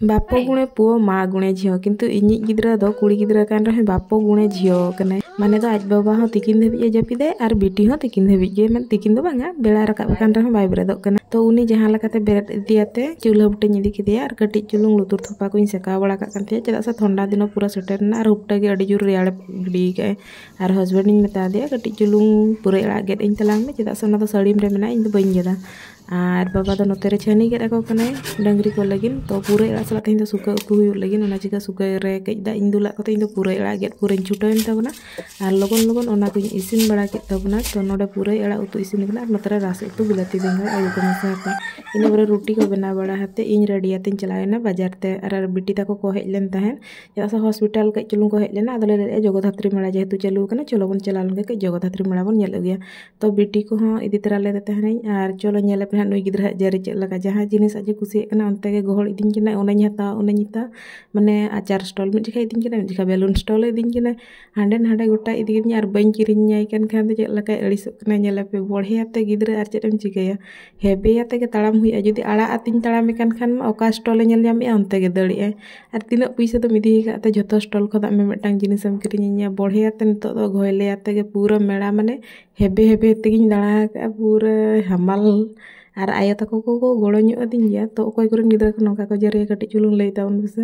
ᱵᱟᱯᱚ ᱜᱩᱬᱮ ᱯᱩᱣᱚ ᱢᱟ ᱜᱩᱬᱮ ᱡᱷᱤᱭᱚ ᱠᱤᱱᱛᱩ ᱤᱧᱤᱡ ᱜᱤᱫᱽᱨᱟᱹ ᱫᱚ ᱠᱩᱲᱤ ᱜᱤᱫᱽᱨᱟᱹ ᱠᱟᱱ ᱨᱮᱦᱚᱸ ᱵᱟᱯᱚ ᱜᱩᱬᱮ ᱡᱷᱤᱭᱚ ᱠᱟᱱᱟᱭ ᱢᱟᱱᱮ ᱫᱚ ᱟᱡ ᱵᱟᱵᱟ ᱦᱚᱸ ᱛᱤᱠᱤᱱ ᱫᱷᱟᱹᱵᱤᱡ ᱮ ᱡᱟᱹᱯᱤᱫᱟᱭ ᱟᱨ ᱵᱤᱴᱤ ᱦᱚᱸ ᱛᱤᱠᱤᱱ ᱫᱷᱟᱹᱵᱤᱡ ᱜᱮ ᱢᱟᱱᱮ ᱛᱤᱠᱤᱱ ᱫᱚ ᱵᱟᱝᱟ ᱵᱮᱲᱟᱭ ᱨᱟᱠᱟᱵ ᱟᱠᱟᱱ ᱨᱮᱦᱚᱸ ᱵᱟᱭ ᱵᱮᱨᱮᱫᱚᱜ ᱠᱟᱱᱟ ᱛᱚ ᱩᱱᱤ ᱡᱟᱦᱟᱸ ᱞᱮᱠᱟᱛᱮ ᱵᱮᱨᱮᱫ ᱤᱫᱤᱭᱟᱛᱮ ᱪᱩᱞᱦᱟᱹ ᱵᱩᱴᱟᱹᱧ ᱤᱫᱤ ᱠᱮᱫᱮᱭᱟ ᱟᱨ ᱠᱟᱹᱴᱤᱡ ᱪᱩᱞᱩᱝ ᱞᱩᱛᱩᱨ ᱛᱷᱚᱯᱟ ᱠᱚᱧ ᱥᱮᱠᱟᱣ ᱵᱟᱲᱟ ᱠᱟᱜ ᱠᱟᱱ ᱛᱟᱦᱮᱸᱫ ᱪᱮᱫᱟᱜ ᱥᱮ ᱴᱷᱚᱱᱰᱟ ᱫᱤᱱ ᱦᱚᱸ ᱯᱩᱨᱟᱹ ᱥᱮᱴᱮᱨᱮᱱᱟ ᱟᱨ ᱩᱯᱴᱟᱹ ᱜᱮ ᱟᱹᱰᱤ ᱡᱳᱨ ᱨᱮᱭᱟᱲ ᱜᱤᱰᱤ ᱠᱟᱜᱼᱟᱭ ᱟᱨ ᱦᱟᱥᱵᱮᱱᱰ ᱤᱧ ᱢᱮᱛᱟ ᱫᱮᱭᱟ ᱠᱟᱹᱴᱤᱡ ᱪᱩᱞᱩᱝ ᱯᱩᱨᱟᱹᱭ ᱟᱲᱟᱜ ᱜᱮᱫ ᱟᱹᱧ ᱛᱟᱞᱟᱝ ᱢᱮ ᱪᱮᱫᱟᱜ ᱥᱮ ᱚᱱᱟ ᱫᱚ ᱥᱟᱹᱲᱤᱢ ᱨᱮ ᱢᱮᱱᱟᱜᱼᱟ ᱤᱧ ᱫᱚ ᱵᱟᱹᱧ ᱜᱮᱫᱟ ᱟᱨ ᱵᱟᱵᱟ ᱫᱚ ᱱᱚᱛᱮ ᱨᱮ ᱪᱷᱟᱹᱱᱤ ᱜᱮᱫ ᱟᱠᱚ ᱠᱟᱱᱟᱭ ᱰᱟᱹᱝᱨᱤ ᱠᱚ ᱞᱟᱹᱜᱤᱫ ᱛᱚ ᱯᱩᱨᱟᱹᱭ ᱟᱲᱟᱜ ᱥᱟᱞᱟᱜ ᱛᱮᱦᱮᱧ ᱫᱚ ᱥᱩᱠᱟᱹ ᱩᱛᱩ ᱦᱩᱭᱩᱜ ᱞᱟᱹᱜᱤᱫ ᱚᱱᱟ ᱪᱤᱠᱟᱹ ᱥᱩᱠᱟᱹ ᱨᱮ ᱠᱟᱹᱡ ᱫᱟᱜ ᱤᱧ ᱫᱩᱞᱟᱜ ᱠᱚᱛᱮ ᱤᱧ ᱫᱚ ᱯᱩᱨᱟᱹᱭ ᱟᱲᱟᱜ ᱜᱮᱫ ᱯᱩᱨᱟᱹᱧ ᱪᱷᱩᱴᱟᱹᱣᱮᱱ ᱛᱟᱵᱚᱱᱟ ᱟᱨ ᱞᱚᱜᱚᱱ ᱞᱚᱜᱚᱱ ᱚᱱᱟ ᱠᱚᱧ ᱤᱥᱤᱱ ᱵᱟᱲᱟ ᱠᱮᱫ ᱛᱟᱵᱚᱱᱟ ᱛᱚ ᱱᱚᱰᱮ ᱯᱩᱨᱟᱹᱭ ᱟᱲᱟᱜ ᱩᱛᱩ ᱤᱥᱤᱱ ᱠᱟᱱᱟ ᱟᱨ ᱱᱚᱛᱮ ᱨᱮ ᱨᱟᱥᱮ ᱩᱛᱩ ᱵᱤᱞᱟᱹᱛᱤ ᱵᱮᱸᱜᱟᱲ ᱟᱹᱞᱩ ᱠᱚ ᱢᱮᱥᱟ ᱟᱠᱟᱱᱟ ᱤᱱᱟᱹ ᱯᱚᱨᱮ ᱨᱩᱴᱤ ᱠᱚ ᱵᱮᱱᱟᱣ ᱵᱟᱲᱟ ᱠᱟᱛᱮᱫ ᱤᱧ ᱨᱮᱰᱤ ᱠᱟᱛᱮᱧ ᱪᱟᱞᱟᱣᱮᱱᱟ ᱵᱟᱡᱟᱨ ᱛᱮ ᱟᱨ ᱵᱤᱴᱤ ᱛᱟᱠᱚ ᱠᱚ ᱦᱮᱡ ᱞᱮᱱ ᱛᱟᱦᱮᱸᱫ ᱪᱮᱫᱟᱜ ᱥᱮ ᱦᱚᱥᱯᱤᱴᱟᱞ ᱠᱟᱹᱡ ᱪᱩᱞᱩᱝ ᱠᱚ ᱦᱮᱡ ᱞᱮᱱᱟ ᱟᱫᱚᱞᱮ ᱞᱟᱹᱭᱮᱫᱼᱟ ᱡᱚᱜᱚᱫᱷᱟᱛᱨᱤ ᱢᱮᱞᱟ ᱡᱮᱦᱮᱛᱩ ᱪᱟᱹᱞᱩ ᱟᱠᱟᱱᱟ ᱪᱚᱞᱚ ᱵᱚᱱ ᱪᱟᱞᱟᱣ ᱞᱮᱱᱜᱮ ᱠᱟᱹᱡ ᱡᱚᱜᱚᱫᱷᱟᱛᱨᱤ ᱢᱮᱞᱟ ᱵᱚᱱ ᱧᱮᱞ ᱟᱹᱜᱩᱭᱟ ᱛᱚ ᱵᱤᱴᱤ ᱠᱚᱦᱚᱸ ᱤᱫᱤ ᱛᱚᱨᱟ ᱞᱮᱫᱮ ᱛᱟᱦᱮᱱᱤᱧ ᱟᱨ ᱪᱚᱞᱚ ᱧᱮᱞᱮᱯᱮ ᱦᱟᱸᱜ ᱱᱩᱭ ᱜᱤᱫᱽᱨᱟᱹ ᱟᱜ ᱡᱟᱹᱨᱤ ᱪᱮᱫ ᱞᱮᱠᱟ ᱡᱟᱦᱟᱸ ᱡᱤᱱᱤᱥ ᱟᱡ ᱮ ᱠᱩᱥᱤᱭᱟᱜ ᱠᱟᱱᱟ ᱚᱱᱛᱮ ᱜᱮ ᱜᱚᱦᱚᱲ ᱤᱫᱤᱧ ᱠᱟᱱᱟᱭ ᱚᱱᱟᱧ ᱦᱟᱛᱟᱣᱟ ᱚᱱᱟᱧ ᱦᱟᱛᱟᱣᱟ ᱢᱟᱱᱮ ᱟᱪᱟᱨ ᱥᱴᱚᱞ ᱢᱤᱫ ᱡᱚᱠᱷᱮᱡ ᱤᱫᱤᱧ ᱠᱟᱱᱟᱭ ᱢᱤᱫ ᱡᱚᱠᱷᱮᱡ ᱵᱮᱞᱩᱱ ᱥᱴᱚᱞ ᱮ ᱤᱫᱤᱧ ᱠᱟᱱᱟᱭ ᱦᱟᱸᱰᱮ ᱱᱟᱰᱮ ᱜᱚᱴᱟᱭ ᱤᱫᱤ ᱠᱤᱫᱤᱧᱟ ᱟᱨ ᱵᱟᱹᱧ ᱠᱤᱨᱤᱧ ᱟᱭ ᱠᱟᱱ ᱠᱷᱟᱱ ᱫᱚ ᱪᱮᱫ ᱞᱮᱠᱟᱭ ᱟᱹᱲᱤᱥᱚᱜ ᱠᱟᱱᱟᱭ ᱧᱮᱞᱮᱯᱮ ᱵᱚᱲᱦᱮ ᱟᱛᱮ ᱜᱤᱫᱽᱨᱟᱹ ᱟᱨ ᱪᱮᱫ ᱮᱢ ᱪᱤᱠᱟᱹᱭᱟ ᱦᱮᱵᱮ ᱟᱛᱮ ᱜᱮ ᱛᱟᱲᱟᱢ ᱦᱩᱭᱩᱜᱼᱟ ᱡᱩᱫᱤ ᱟᱲᱟᱜ ᱟᱛᱮᱧ ᱛᱟᱲᱟᱢᱮ ᱠᱟᱱ ᱠᱷᱟᱱ ᱢᱟ ᱚᱠᱟ ᱥᱴᱚᱞᱮ ᱧᱮᱞ ᱧᱟᱢᱮᱜᱼᱟ ᱚᱱᱛᱮ ᱜᱮ ᱫᱟᱹᱲᱮᱜ ᱟᱭ ᱟᱨ ᱛᱤᱱᱟᱹᱜ ᱯᱩᱭᱥᱟᱹ ᱫᱚᱢ ᱤᱫᱤ ᱟᱠᱟᱫ ᱛᱮ ᱡᱚᱛᱚ ᱥᱴᱚᱞ ᱠᱷᱚᱱᱟᱜ ᱢᱤ ᱢᱤᱫᱴᱟᱝ ᱡᱤᱱᱤᱥ ᱮᱢ ᱠᱤᱨᱤᱧ ᱤᱧᱟᱹ ᱵᱚᱲᱦᱮ ᱟᱛᱮᱫ ᱱᱤᱛᱚᱜ ᱫᱚ ᱜᱷᱚᱭᱞᱮ ᱟᱛᱮᱫ ᱜᱮ ᱯᱩᱨᱟᱹ ᱢᱮᱞᱟ ᱢᱟᱱᱮ ᱦᱮᱵᱮ ᱦᱮᱵᱮ ᱛᱮᱜᱮᱧ ᱫᱟᱬᱟ ᱟᱠᱟᱫᱼᱟ ᱯᱩᱨᱟᱹ ᱦᱟᱢᱟᱞ ᱟᱨ ᱟᱭᱳ ᱛᱟᱠᱚ ᱠᱚ ᱜᱚᱲᱚ ᱧᱚᱜ ᱟᱹᱫᱤᱧ ᱜᱮᱭᱟ ᱛᱚ ᱚᱠᱚᱭ ᱠᱚᱨᱮᱱ ᱜᱤᱫᱽᱨᱟᱹ ᱠᱚ ᱱᱚᱝᱠᱟ ᱠᱚ ᱡᱟᱹᱨᱤᱭᱟ ᱠᱟᱹᱴᱤᱡ ᱪᱩᱞᱩᱝ ᱞᱟᱹᱭ ᱛᱟᱵᱚᱱ ᱢᱮᱥᱮ